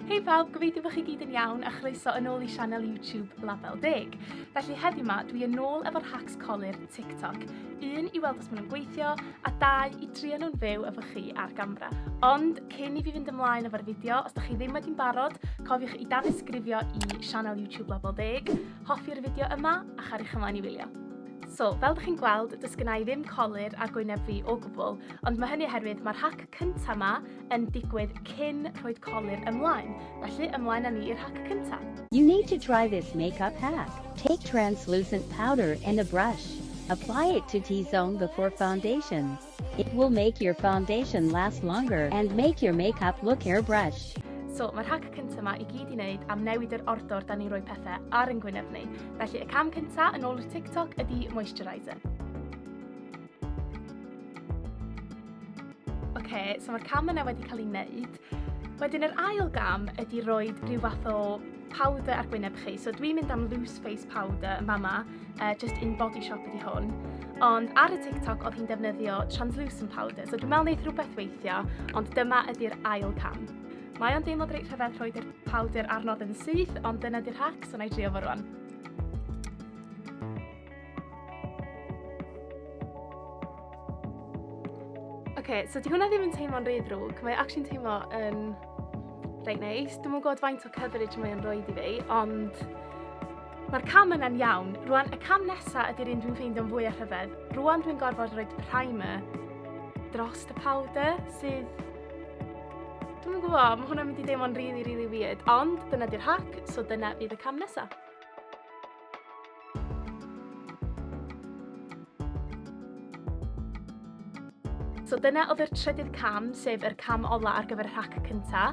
Hei pawb, gobeithio bod chi gyd yn iawn a chroeso yn ôl i sianel YouTube Label Deg. Felly heddi yma, dwi yn ôl efo'r hacks colir TikTok. Un, i weld os maen nhw'n gweithio, a dau, i trio nhw'n fyw efo chi ar gamera. Ond cyn i fi fynd ymlaen efo'r fideo, os da chi ddim wedi'n barod, cofiwch i danysgrifio i sianel YouTube Label Deg, hoffi'r fideo yma a chariwch ymlaen i wylio. So, fel da chi'n gweld, does gennau ddim colir ar gwyneb fi o gwbl, ond mae hynny oherwydd mae'r hac cynta 'ma yn digwydd cyn rhoid colur ymlaen, felly ymlaen â ni i'r hack cynta. You need to try this makeup hack. Take translucent powder and a brush. Apply it to T-zone before foundation. It will make your foundation last longer and make your makeup look airbrushed. So, mae'r hack cyntaf yma i gyd i wneud am newid yr ordor da ni'n rhoi pethau ar yn gwyneb ni. Felly, y cam cyntaf yn ôl y TikTok ydy moisturiser. Oce, so mae'r cam yna wedi cael ei wneud. Wedyn yr ail gam ydy roi rhyw fath o powder ar gwyneb chi. So dwi'n mynd am loose face powder yn fama, uh, just in body shop ydy hwn. Ond ar y TikTok oedd hi'n defnyddio translucent powder, so dwi'n meddwl wneud rhywbeth weithio, ond dyma ydy'r ail cam. Mae o'n deimlo reit rhyfedd rhoi rhoi'r powder arnodd yn syth, ond dyna di'r hack, so na i drio fo rwan. okay, so di hwnna ddim yn teimlo'n rhy ddrwg. Mae actually'n teimlo yn reit neis. Dwi'n mwyn gwybod faint o coverage mae'n rhoi i fi, ond mae'r cam yna'n iawn. Rwan, y cam nesaf ydy'r un dwi'n ffeindio'n fwy a rhyfedd. Rwan dwi'n gorfod rhoi primer dros y powder sydd... Dwi'n mwyn gwybod, mae hwnna'n mynd i deimlo'n really, really weird, ond dyna di'r hack, so dyna fydd y cam nesaf. So dyna oedd yr trydydd cam, sef yr cam ola ar gyfer y rhac cynta.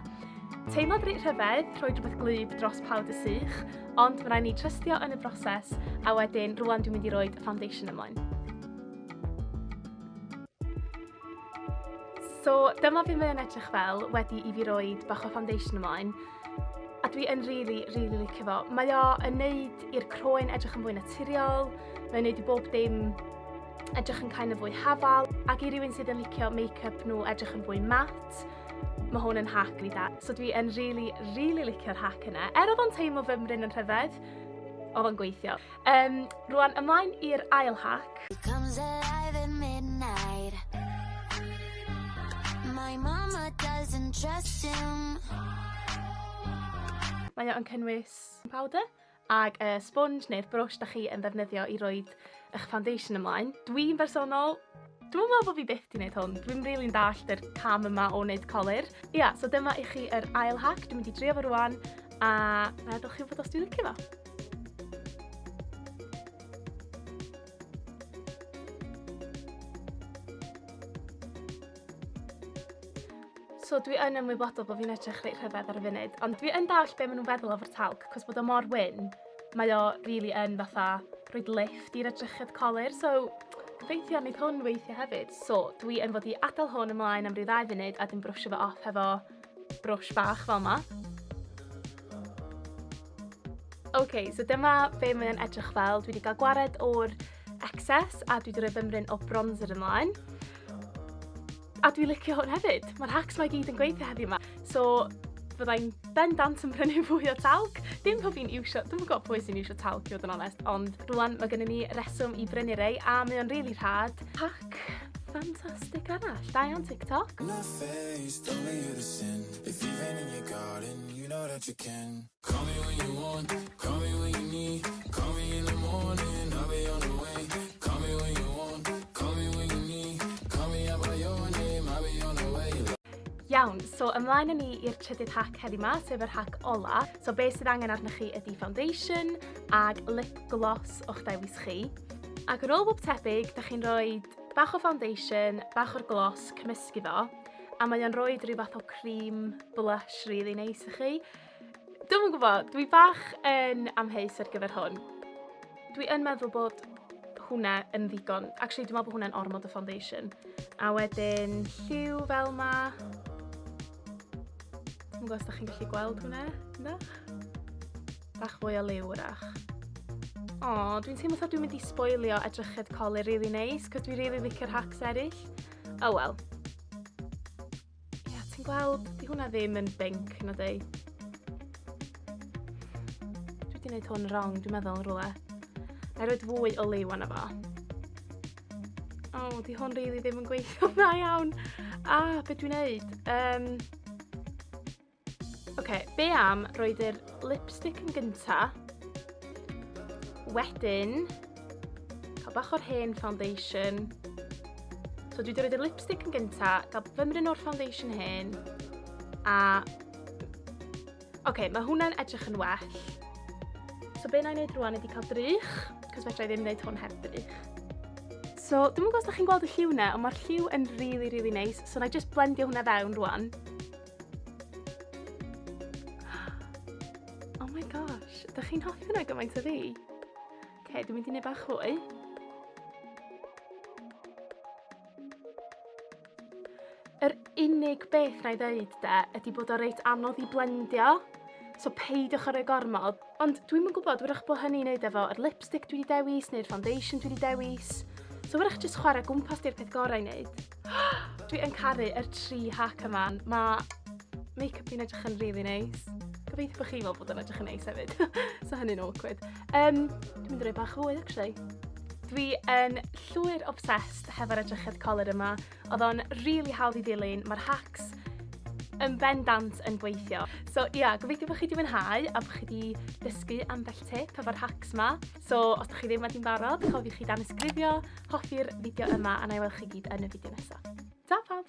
Teimlad reit rhyfedd, rhoi rhywbeth gwlyb dros pawb dy sych, ond mae rhaid ni trystio yn y broses, a wedyn rwan dwi'n mynd i roi foundation ymlaen. So dyma fi mae'n edrych fel wedi i fi roed bach o foundation ymlaen a dwi yn really, really licio fo. Mae o yn neud i'r croen edrych yn fwy naturiol, mae'n neud i bob dim edrych yn kind of fwy hafal, ac i rywun sydd yn licio make-up nhw edrych yn fwy mat, mae hwn yn hack really da. So dwi yn really, really licio'r hack yna. Er oedd o'n teimlo fy mryn yn rhyfedd, oedd o'n gweithio. Yym, rwan ymlaen i'r ail hac. My mama doesn't trust him. Mae o'n cynnwys powder ag y sponge neu'r brwsh 'dach chi yn ddefnyddio i roid 'ych foundation ymlaen. Dwi'n bersonol Dwi'm yn meddwl bod fi byth 'di wneud hwn. Dwi'm rili'n dallt yr cam yma o wneud colur. Ia, so dyma i chi yr ail hack. Dwi'n mynd i drio fo rwan, a na ydych chi'n fod os dwi'n licio fo. So dwi yn ymwybodol bod fi'n edrych reit rhyfedd ar y funud, ond dwi yn dallt be maen nhw'n feddwl o'r talc, cos bod o mor wyn. Mae o rili yn fatha rhoid lifft i'r edrychedd colur so gobeithio neith hwn weithio hefyd. So dwi yn fod i adael hwn ymlaen am ryw ddau funud a dwi'n brwsio fo off hefo brwsh bach fel 'ma. Ok so dyma be' mae o'n edrych fel dwi 'di ga'l gwared o'r excess a dwi 'di roi bymryn o bronzer ymlaen. A dwi licio hwn hefyd. Mae'r hacks mae gyd yn gweithio heddiw yma. So, fyddai'n bendant yn prynu fwy o talc. Dim pob fi'n iwsio, dwi'n gwybod pwy sy'n iwsio talc i fod yn onest, ond rwan mae gennym ni reswm i brynu rei a mae o'n rili really rhad. Hack ffantastig arall, da iawn TikTok. Face, don't you the sin. If you've in your garden, you know that you can. Iawn, so ymlaen â ni i'r trydydd hack heddi ma, sef yr hack ola. So be sydd angen arnoch chi ydy foundation ag lip gloss o'ch dewis chi. Ac yn ôl bob tebyg, da chi'n rhoi bach o foundation, bach o'r gloss, cymysgu fo, a mae o'n rhoi rhyw fath o cream blush really neis i chi. Dwi'm yn gwybod, dwi bach yn amheus ar gyfer hwn. Dwi yn meddwl bod hwnna yn ddigon. Actually, dwi'n meddwl bod hwnna'n ormod o foundation. A wedyn lliw fel ma. Dwi'n gwybod os da chi'n gallu gweld hwnna, ynddo? Bach fwy o liw wrach. O, dwi'n teimlo sa dwi'n mynd i sboilio edrychedd coli rili really neis, cos dwi'n rili really licio'r hacks eraill. Oh well. Ie, yeah, ti'n gweld, di hwnna ddim yn binc, na di. Dwi wedi gwneud hwn wrong, dwi'n meddwl, yn rhywle. Na i roed fwy o liw anna fo. O, oh, di hwn rili ddim yn gweithio dda iawn. A, ah, beth dwi'n neud? Um, Ok, be am roed yr lipstick yn gynta. Wedyn, cael bach o'r hen foundation. So dwi wedi roed yr lipstick yn gynta, gael fymryn o'r foundation hen, a... Ok, mae hwnna'n edrych yn well. So be na i wneud rwan ydy cael drych, cos fedra i ddim wneud hwn heb drych. So, dwi'n gwybod os da chi'n gweld y lliw na, ond mae'r lliw yn really, really nice. So, na i just blendio hwnna fewn rwan. Oh my gosh, ydych chi'n hoffi hwnna gymaint o fi? Ok, dwi'n mynd i wneud bach hwy. Yr unig beth na i ddeud de, ydy bod o reit anodd i blendio, so peidiwch ar y gormod. Ond dwi'n mynd gwybod, wyrach bod hynny'n neud efo yr lipstick dwi wedi dewis, neu'r foundation dwi wedi dewis. So wyrach jyst chwarae gwmpas di'r peth gorau i wneud. Dwi yn caru yr tri hack yma. Mae make-up fi'n edrych yn really neis. Gobeithio bod chi fel bod yn edrych yn neis hefyd. so hynny'n awkward. Um, dwi'n mynd i roi bach fwy, actually. Dwi yn llwyr obsessed hefo'r edrychedd coler yma. Oedd o'n really hawdd i ddilyn. Mae'r hacks yn bendant yn gweithio. So ia, yeah, gobeithio bod chi wedi mwynhau a bod chi wedi dysgu ambell tip efo'r hacks yma. So, os da chi ddim wedi'n barod, cofiwch i dan ysgrifio, hoffi'r fideo yma a na i weld chi gyd yn y fideo nesaf. Ta pawb!